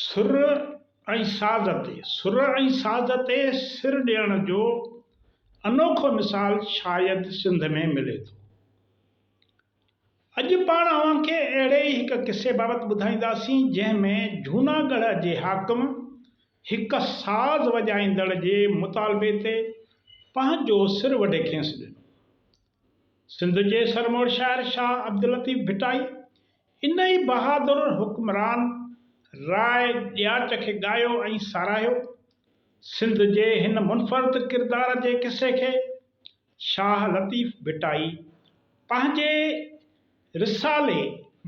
سر ۽ ساز تي سر ۽ ساز تي سر ڏيڻ جو انوکو مثال شايد سنڌ ۾ ملي ٿو. اڄ پاڻ اوهان کي اهڙي ئي هڪ قصي بابت ٻڌائينداسين جنهن ۾ جهوناڳڙهه جي حاڪم هڪ ساز وڄائيندڙ جي مطالبي تي پنهنجو سر وڍي کيس ڏنو. سنڌ جي سرموڙ شاعر شاهه عبداللطيف ڀٽائي انهيء بهادر حڪمران راء ڏياچ کي ڳايو ۽ ساراهيو. سنڌ جي هن منفرد ڪردار جي قصي کي شاهه لطيف ڀٽائي پنهنجي رسالي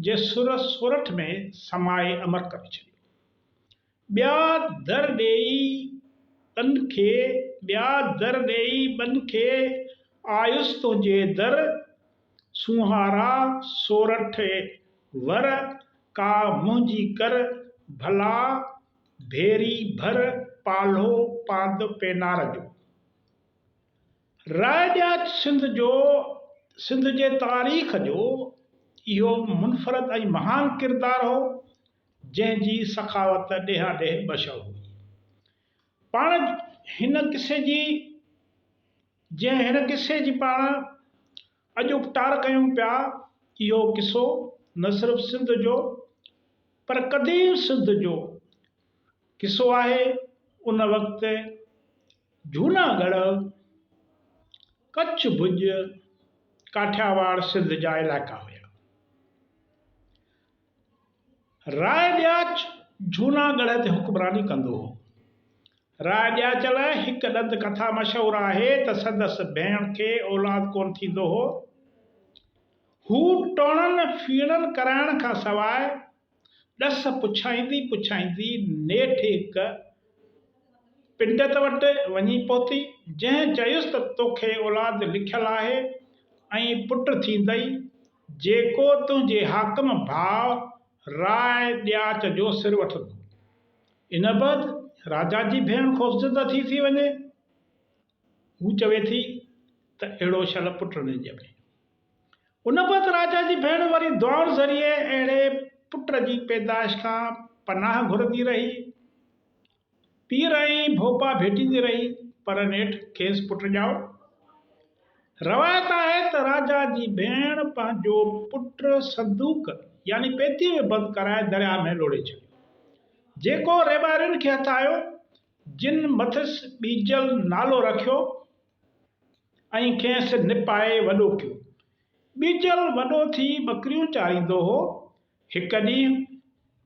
جي سر سورٺ ۾ سمائي امر ڪري ڇڏيو. ٻيا در ڏيئي ٻن کي، ٻيا در ڏيئي ٻن کي، آيس تنهنجي در سونهارا سورٺ ور، ڪا منهنجي ڪر ڀلا ڀيري ڀر، پالهو پاند پينار جو. رائجاچ سنڌ جو سنڌ جي تاريخ جو اهو منفرد ۽ مهان ڪردار هو. جنهن جي سخاوت ڏيهاڏيهه مشهور هئي. پاڻ هن قصي جي جنهن هن قصي جي پاڻ اڄ اپٽار ڪيون پيا، اهو قصو نه صرف سنڌ جو پر قديم سنڌ جو قصو آهي. ان وقت جهونا ڳڙهه، ڪڇ ڀڄ، ڪاٺياواڙ سنڌ جا علائقا هيا. راء ڏياچ جهونا ڳڙهه تي حڪمراني ڪندو هو. راء ڏياچ لاء هڪ ڏند ڪٿا مشهور آهي ته سندس ڀيڻ کي اولاد ڪونه ٿيندو هو. هو ٽوڻن ڦيڻن ڪرائڻ کان سواء ڏس پڇائيندي پڇائيندي نيٺ هڪ پنڊت وٽ وڃي پهتي، جنهن چيس ته توکي اولاد لکيل آهي ۽ پٽ ٿيندئي، جيڪو تنهنجي حاڪم ڀاء راء ڏياچ جو سر وٺندو، ان بعد راجا جي ڀيڻ خوفزده ٿي ٿي وڃي. هو چوي ٿي ته اهڙو شل پٽ نه ڄمي. ان بعد راجا جي ڀيڻ وري دعائن ذريعي اهڙي پٽ جي پيدائش کان پناهه گهرندي رهي. پير ۽ ڀوپا ڀيٽيندي رهي پر نيٺ کيس پٽ ڄائو. روايت آهي ته راجا جي ڀيڻ پنهنجو پٽ صندوق يعني پيتيء ۾ بند ڪرائي درياء ۾ لوڙهي ڇڏيو. جيڪو ريٻارين کي هٿ آيو، جن مٿس ٻيجل نالو رکيو ۽ کيس نپائي وڏو ڪيو. ٻيجل وڏو ٿي ٻڪريون چاريندو هو، هڪ ڏينهن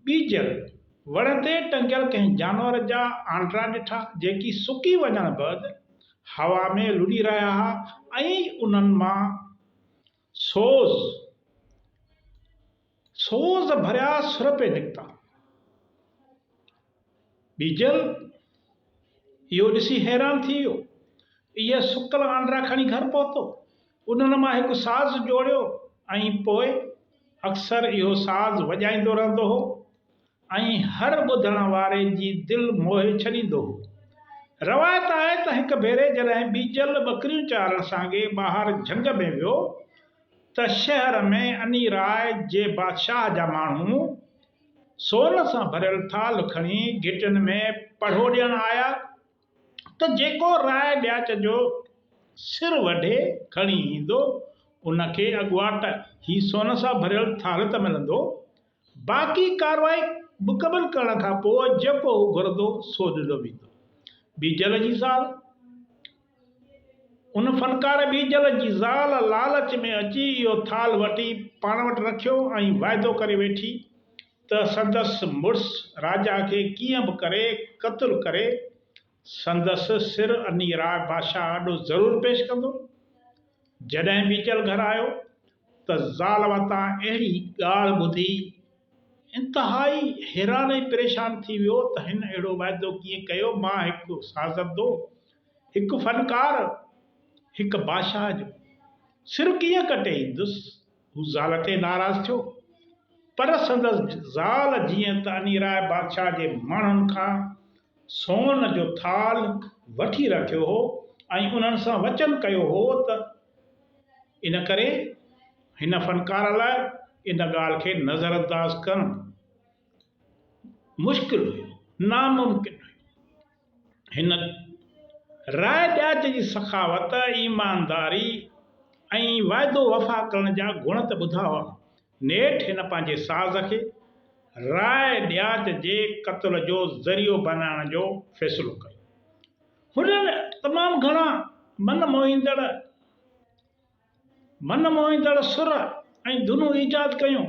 ٻيجل وڻ تي ٽنگيل ڪنهن جانور جا آنڊرا ڏٺا، جيڪي سڪي وڃڻ بعد هوا ۾ لڏي رهيا ها ۽ انهن مان سوز سوز ڀريا سر پئي نڪتا. ٻيجل اهو ڏسي حيران ٿي ويو. اهي سڪل آنڊرا کڻي گهر پهتو. انهن مان هڪ ساز جوڙيو ۽ پوء اڪثر اهو ساز وڄائيندو رهندو هو ۽ هر ٻڌڻ واري جي دل موهي ڇڏيندو هو. روايت آهي ته هڪ ڀيري جڏهن ٻيجل ٻڪريون چارڻ سانگي ٻاهر جهنگ ۾ ويو ته شهر ۾ اني راء جي بادشاهه جا ماڻهو، سون سان ڀريل ٿالھ کڻي گهٽين ۾ پڙهو ڏيڻ آيا ته جيڪو راء ڏياچ جو سر وڍي کڻي ايندو ان کي اڳواٽ هي سون سان ڀريل ٿالھ ته ملندو باقي ڪارروائي مڪمل ڪرڻ کان پوء جيڪو هو گهرندو سو ڏنو ويندو. بيجل جي زال. ان فنڪار ٻيجل جي زال لالچ ۾ اچي اهو ٿالهه وٺي پاڻ وٽ رکيو ۽ واعدو ڪري ويٺي ته سندس مڙس راجا کي ڪيئن به ڪري قتل ڪري سندس سر انهي راء بادشاهه آڏو ضرور پيش ڪندو. جڏهن ٻيجل گهر آيو ته زال وتان اهڙي ڳالهه ٻڌي انتهائي حيران ۽ پريشان ٿي ويو ته هن اهڙو واعدو ڪيئن ڪيو مان هڪ سازندو هڪ فنڪار، هڪ بادشاهه جو سر ڪيئن ڪٽي ايندس؟ هو زال تي ناراض ٿيو، پر سندس زال جيئن ته انيراء بادشاهه جي ماڻهن کان سون جو ٿالهه وٺي رکيو هو ۽ انهن سان وچن ڪيو هو ته ان ڪري هن فنڪار لاء ان ڳالهه کي نظرانداز ڪرڻ مشڪل هيو، ناممڪن هيو. هن راء ڏياچ جي سخاوت، ايمانداري ۽ وعدو وفا ڪرڻ جا گڻ ته ٻڌا هئا. نيٺ هن پنهنجي ساز کي راء ڏياچ جي قتل جو ذريعو بنائڻ جو فيصلو ڪيو. هنن تمام گهڻا من موهيندڙ. من موهيندڙ سر ۽ ڌنون ايجاد ڪيون،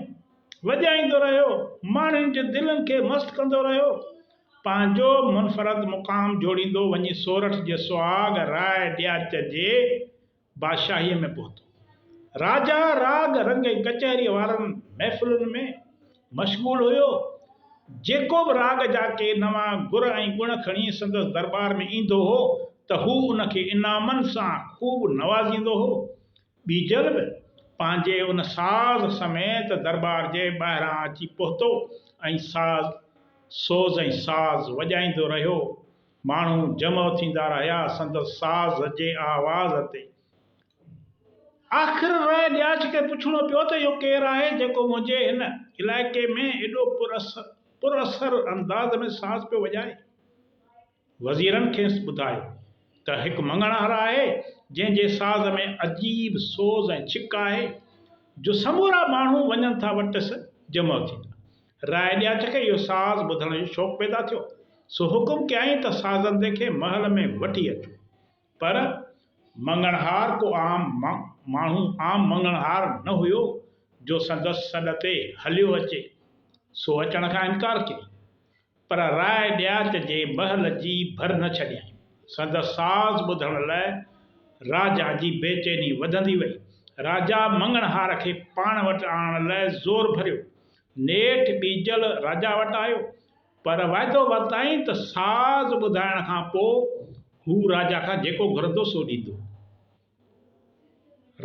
وڄائيندو رهيو، ماڻهين جي دلين کي مست ڪندو رهيو، پنهنجو منفرد مقام جوڙيندو وڃي سورٺ جي سهاڳ راء ڏياچ جي بادشاهيء ۾ پهتو. راجا راڳ رنگ ۽ ڪچهريء وارن محفلن ۾. مشغول هيو، جيڪو به راڳ جا ڪي نوان گر ۽ گڻ کڻي سندس درٻار ۾ ايندو هو ته هو ان کي انعامن سان خوب نوازيندو هو. ٻيجل به پنهنجي ان ساز سميت درٻار جي ٻاهران اچي پهتو ۽ ساز سوز ۽ ساز وڄائيندو رهيو. ماڻهو جمع ٿيندا رهيا سندس ساز جي آواز تي. آخر راء ڏياچ کي پڇڻو پيو ته اهو ڪير آهي جيڪو منهنجي هن علائقي ۾ ايڏو پر اثر انداز ۾ ساز پيو وڄائي. وزيرن کيس ٻڌايو ته هڪ مڱڻهار آهي جنهن جي ساز ۾ عجيب سوز ۽ ڇڪ آهي جو سمورا ماڻهو وڃن ٿا وٽس جمع ٿيندا. راء ڏياچ کي اهو ساز ٻڌڻ جو شوق پيدا ٿيو سو حڪم ڪيائين ته سازندي کي محل ۾ وٺي اچو. پر مڱڻهار ڪو عام ماڻهو، عام مڱڻهار نه هيو جو سندس سڏ تي هليو اچي، سو اچڻ کان انڪار ڪيائين، پر راء ڏياچ جي مهل جي ڀر نه ڇڏيائين. سندس ساز ٻڌڻ لاء راجا جي بيچيني وڌندي وئي. راجا مڱڻهار کي پاڻ وٽ آڻڻ لاء زور ڀريو. نيٺ ٻيجل راجا وٽ آيو. پر وعدو ورتائين ته ساز ٻڌائڻ کان پوء هو راجا کان جيڪو گهرندو سو ڏيندو.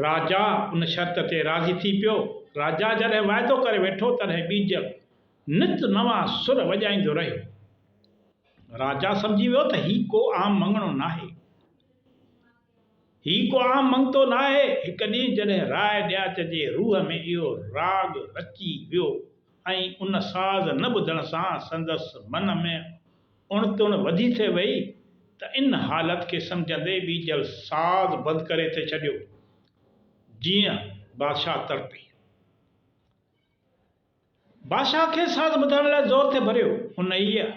راجا ان شرط تي راضي ٿي پيو. راجا جڏهن وعدو ڪري ويٺو تڏهن ٻيجل نت نوان سر وڄائيندو رهيو. راجا سمجهي ويو ته هي ڪو عام مڱڻو ناهي. هي ڪو عام مڱتو ناهي. هڪ ڏينهن جڏهن راء ڏياچ جي روح ۾ اهو راڳ رچي ويو. ۽ ان ساز نه ٻڌڻ سان سندس من ۾ اڻ تڻ وڌي ٿي وئي ته ان حالت کي سمجهندي ٻيجل ساز بند ڪري ٿي ڇڏيو. جيئن بادشاهه تڙپي. بادشاهه کيس ساز ٻڌائڻ لاء زور ٿي ڀريو. انهيء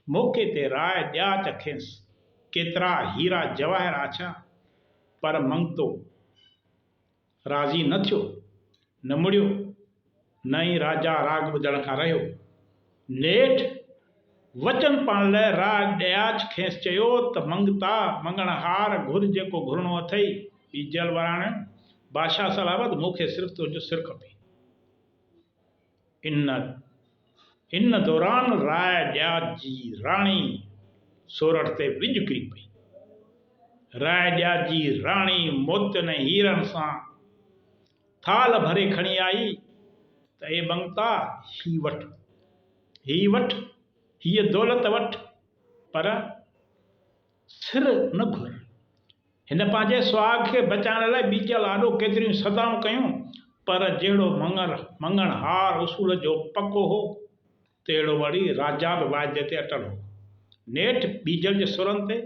موقعي تي راء ڏياچ کيس ڪيترا هيرا جواهر آڇيا، پر منگتو. راضي نه ٿيو، نه مڙيو، نه ئي راجا راڳ ٻڌڻ کان رهيو. نيٺ وچن پاڻ لئه راڳ ڏياچ کيس چيو ته منگتا، مڱڻهار، گهر جيڪو گهرڻو اٿئي، ٻيجل وراڻيو، بادشاهه سلامت، مون کي صرف تنهنجو سر کپي. ان ان دوران راء ڄاچ جي راڻي سورٺ تي وڄ ڪري پئي. راء ڄاچ جي راڻي موتين ۽ هيرن سان ٿالهه ڀري کڻي آئي ته اي ٻنگتا هي وٺ، هي وٺ، هيء دولت وٺ، پر سر نه گهر. هن پنهنجي سهاڳ کي بچائڻ لاء ٻيجل آڏو ڪيتريون سدائون ڪيون، پر جهڙو مڱر مڱڻهار اصول جو پڪو هو، تهڙو وڙي راجا به واعدي تي اٽل هو. نيٺ ٻيجل جي سرن تي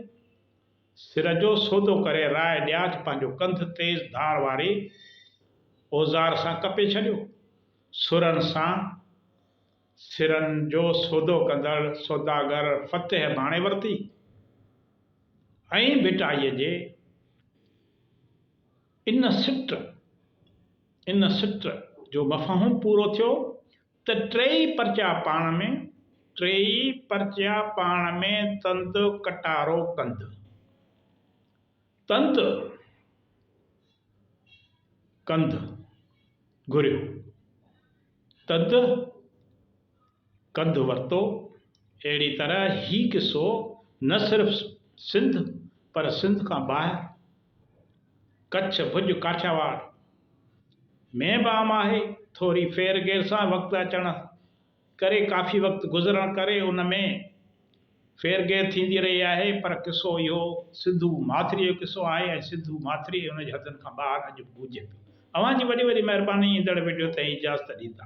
سر جو سودو ڪري راء ڏياچ پنهنجو ڪنڌ تيز ڌار واري اوزار سان ڪپي ڇڏيو. سرن سان. سرن جو سودو ڪندڙ سوداگر فتح ڀاڻي ورتي ۽ ڀٽائيء جي ان سٽ ان سٽ جو مفهوم پورو ٿيو ته ٽيئي پرچا پاڻ ۾ ٽيئي پرچا پاڻ ۾ تند ڪٽارو ڪند تند ڪند گهريو. تد ڪنڌ ورتو. اهڙي طرح هي قصو نه صرف سنڌ پر سنڌ کان ٻاهر ڪڇ، ڀڄ، ڪاٺياواڙ ۾ به عام آهي. ٿوري ڦير گهير سان وقت اچڻ ڪري ڪافي وقت گذرڻ ڪري ان ۾ ڦير گهير ٿيندي رهي آهي پر قصو اهو سنڌو ماٿريء جو قصو آهي ۽ سنڌو ماٿري ۽ ان جي حدن کان ٻاهر اڄ به گونجي پيو. اوهان جي وڏي وڏي مهرباني ايندڙ وڊيو تائين اجازت ڏيندا.